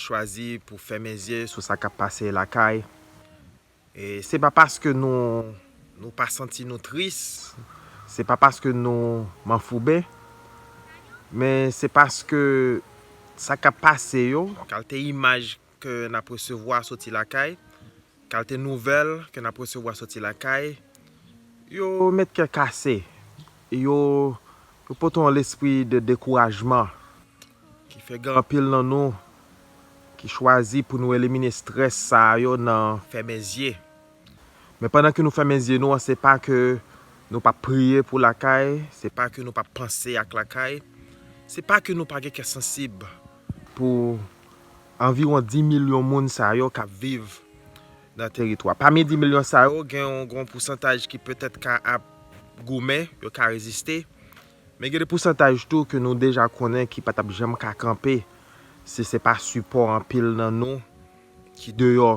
chwazi pou fèmen zye sou sa kap pase lakay e se pa paske nou nou pa santi nou tris se pa paske nou manfouben men se paske sa kap pase yo kalte imaj ke nap resevwa soti lakay. Kalte nouvèl ke n ap resevwa soti lakay yo met kè kase, yo pote yon lespri de dekourajman ki fè gen anpil nan nou ki chwazi pou nou elimine strès sa yo nan fèmen zye. Men pandan ke nou fèmen zye nou an se pa ke nou pap priye pou lakay, se pa ke nou pap panse ak lakay, se pa ke nou pa gen kè sansib pou Anviwon 10 milyon moun sa yo k ap viv nan teritwa. Pami 10 milyon sa yo, gen yon pousantaj ki petèt ka ap goumen, yo ka reziste. Men gen de pousantaj tou ke nou deja konnen ki pa t ap janm ka kanpe si se pa sipò anpil nan nou ki deyò.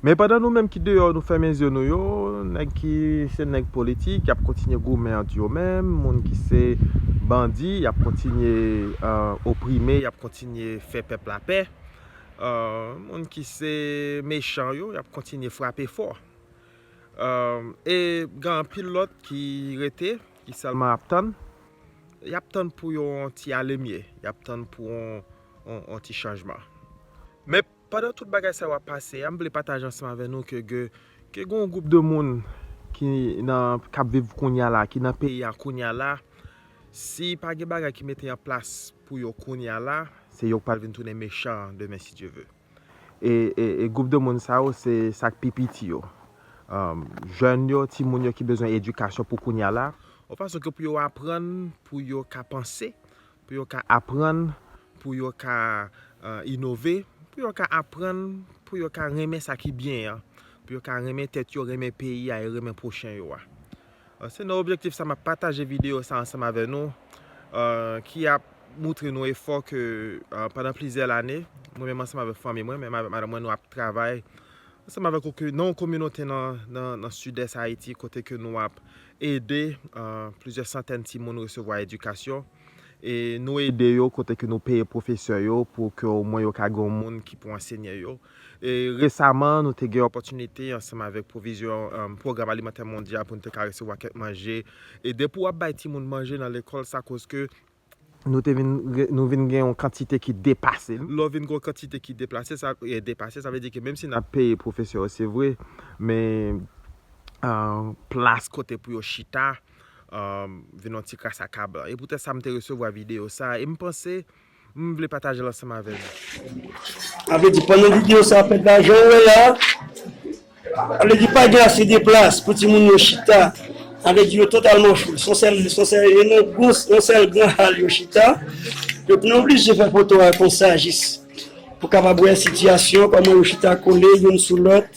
Men pandan nou menm ki deyò nou fèmen zye nou yo, nèg ki se nèg politik y ap kontinye goumen ant yo menm, moun ki se bandi y ap kontinye oprime, y ap kontinye fè pèp la pè, moun ki se mechan yo y ap kontinye frape fò. E gen anpil lòt ki rete, ki sèlman ap tann. Y ap tann pou yon ti alemye. Y ap tann pou yon ti chanjman. Men, pandan tout bagay sa yo ap pase a, m vle pataje ansanm avè nou ke gen yon gwoup de moun ki ap viv kounye a la, ki nan peyi a kounye a la, si pa gen bagay ki mete an plas pou yo kounye a la, se yo k pral vin tounen mechan demen si Dye ve. E gwoup de moun sa yo se sak pi piti yo. Jèn yo, ti moun yo ki bezwen edikasyon pou kounya la. Yon fason ke pou yo aprann pou yo ka panse, pou yo ka aprann pou yo ka inove, pou yo ka aprann pou yo ka renmen sa ki byen an, pou yo ka renmen tèt yo, renmen peyi a e renmen pwochen yo a. Se nan objektif sa map pataje video sa ansanm avè nou ki ap moutre nou efò ke pandan plizyè lane mwen menm ansanm avèk fanmi mwen, menm avèk madanm mwen nou ap travay ansanm avèk ou ke nan yon kominote nan sidès Ayiti kote ke nou ap ede plizyè santèn timoun resevwa edikasyon e nou ede yo kote ke nou peye pwofesè yo pou ke omwen yo ka gen yon moun ki pou ansenye yo Resaman, nou te gen opòtinite ansanm avèk pwovizyon Pwogram Alimantè Mondyal pou nou te ka resevwa kèk manje ede pou ap bay timoun manje nan lekòl sa koske nou te vin nou vin gen yon kantite ki depase. Lè w vin gen yon kantite ki deplase sa depase sa vle di ke menm si n ap peye pwofesè yo se vre men plas kote pou yo chita vin yon ti kras a kablan. E poutèt sa m te resevwa videyo sa e m panse M vle patajel ansanm avè nou. Sa vle di pandan video sa ap fèt la janw wè la sa vle di pa gen ase de plas pou timoun yo chita sa vle di yo totalman fou son sèl yon sèl gran hal yo chita donk nou oblije fè foto a konsa jis pou kapab wè sitiyasyon kòman yo chita kole youn sou lòt.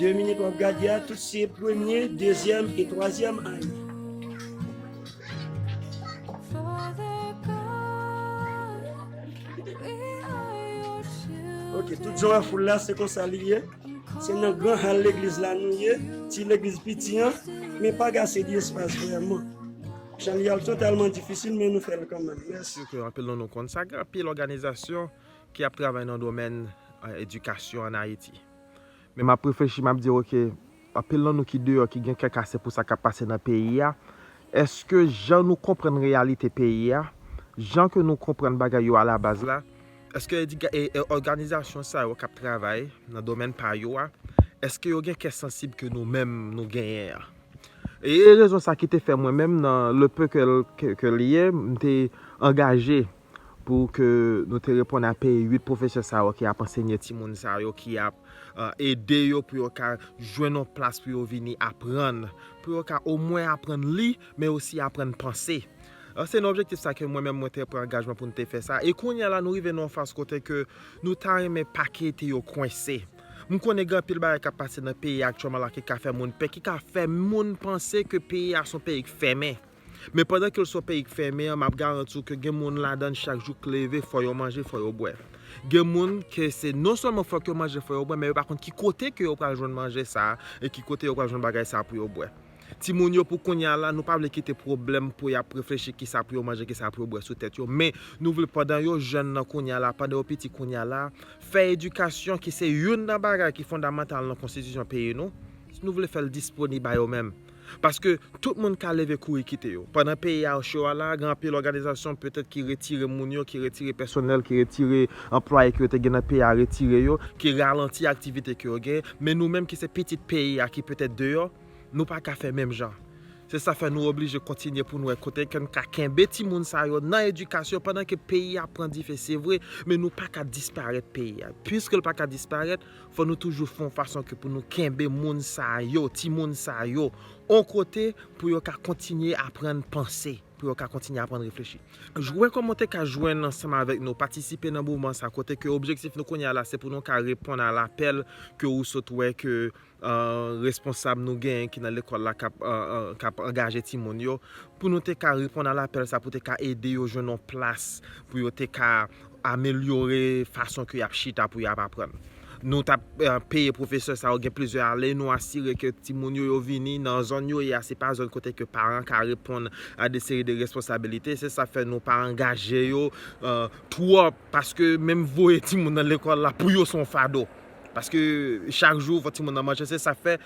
2 minit wap gade a tout se premye, dezyèm e twazyèm ane. Ok, tout jan wè foul la se konsa li ye. Se nan gran hal legliz la nou ye, ti legliz piti an, men pa gase di espas vreman. Jan li al totalman difisil men nou fèl kanmenm. Mèsi. Sitou anpil nan nou konn sa, gen anpil òganizasyon ki ap travay nan domèn edikasyon an Ayiti. Men map reflechi map di ok, anpil nan nou ki deyò ki gen kè kase pou sa kap pase nan peyi a, eske jan nou konprann reyalite peyi a, jan ke nou konprann bagay yo a la baz la, eske òganizasyon sa yo kap travay nan domèn pa yo a, eske yo gen kè sansib ke nou menm nou genyen an? E rezon sa ki te fè mwen menm nan le peu ke li ye, m te angaje. pou ke nou te reponn a peye 8 pwofesè sa yo ki ap ansenye timoun sa yo, ki ap ede yo pou yo ka jwenn yon plas pou yo vini aprann, pou yo ka omwen aprann li, men osi aprann panse. Se nan objektif sa ke mwen menm mwen te pran angajman pou nou te fè sa. E kounye a la nou rive nan yon faz kote ke nou ta renmen pa kite yo kwense. M konnen gen anpil bagay k ap pase nan peyi a aktyèlman la ki ka fè moun pè, ki ka fè moun panse ke peyi a se yon peyi k fèmen. Men pandan kel swa peyi k fèmen an map garanti w ke gen moun ladann chak jou k leve fò yo manje fò yo bwè gen moun ke se non sèlman fòk yo manje fò yo bwè men yo pa konn ki kote ke yo pral jwenn manje sa e ki kote yo pral jwenn bagay sa pou yo bwè timoun yo pou kounya la nou pa vle kite pwoblèm pou yap reflechi kisa pou yo manje kisa pou yo bwè sou tèt yo men nou vle pandan yo jèn nan kounya la pandan yo piti kounya la fè edikasyon ki se youn nan bagay ki fondamantal nan konstitisyon peyi nou nou vle fèl disponib a yo menm. Paske tout moun ka leve kouri kite yo. Pandan peyi a cho a la, gen anpil òganizasyon petèt ki retire moun yo, ki retire pèsonèl, ki retire anplwaye ke yo te gen nan peyi a retire yo, ki ralanti aktivite ke yo gen. Men nou menm ki se pitit peyi a ki petèt deyò, nou pa ka fè menm jan. Se sa fè nou oblije kontinye pou nou wè kote ke n ka kenbe timoun sa yo nan edikasyon pandan ke peyi a ap pran dife se vre, men nou pa ka disparèt peyi a. Piske l pa ka disparèt, Fò nou toujou fè yon fason ke pou nou kenbe moun sa yo, timoun sa yo, yon kote pou yo ka kontinye aprann panse, pou yo ka kontinye aprann reflechi. Jwenn kòman ou te ka jwenn ansanm avèk nou, patisipe nan moman sa kote ke objektif nou kounye a la se pou nou ka reponn a lapèl ke ou sot wè ke responsab nou genyen ki nan lekòl la k ap angaje timoun yo, pou nou te ka reponn a lapèl sa pou te ka ede yo jwenn yon plas pou yo te ka. amelyore fason ke yap chita pou yap aprann. Nou tap peye pwofesè sa yo gen plizyè ane, nou asire ke timoun yo yo vini nan zòn yo ye a, se pa zòn kote ke paran ka reponn a de seri de responsabilite, se sa fè nou pa angaje yo twòp, paske menm voye timoun nan lekòl la pou yo son fado, paske chak jou fò timoun nan manje, se sa fè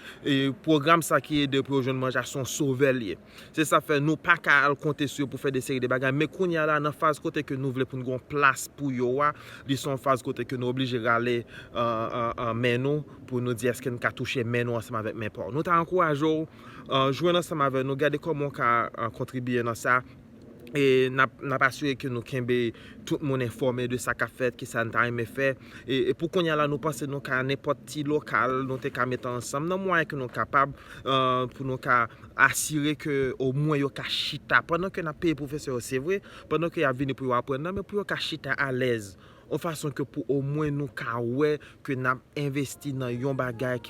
pwogram sa ki ede pou yo jwenn manje a son sovè li ye. Se sa fè nou pa ka al konte sou yo pou fè de seri de bagay. Men kounye a la, nan faz kote ke nou vle pou n gen yon plas pou yo a, li se yon faz kote ke nou oblije rale men nou pou nou di eske n ka touche men nou ansanm avèk men pa w. Nou ta ankouraje w jwenn ansanm avèk nou, gade kòman w ka kontribiye nan sa. E n ap asire ke nou kenbe tout moun enfòme de sa k ap fèt, ki sa n ta renmen fè. E pou kounye a la nou panse nou ka nenpòt ti lokal nou te ka mete ansanm nan mwayen ke nou kapab pou nou ka asire ke omwen yo ka chita pandan ke nap peye pwofesè yo se vre, pandan ke yap vini pou yo aprann nan men pou yo ka chita alèz yon fason ke pou omwen nou ka wè ke nap envesti nan yon bagay.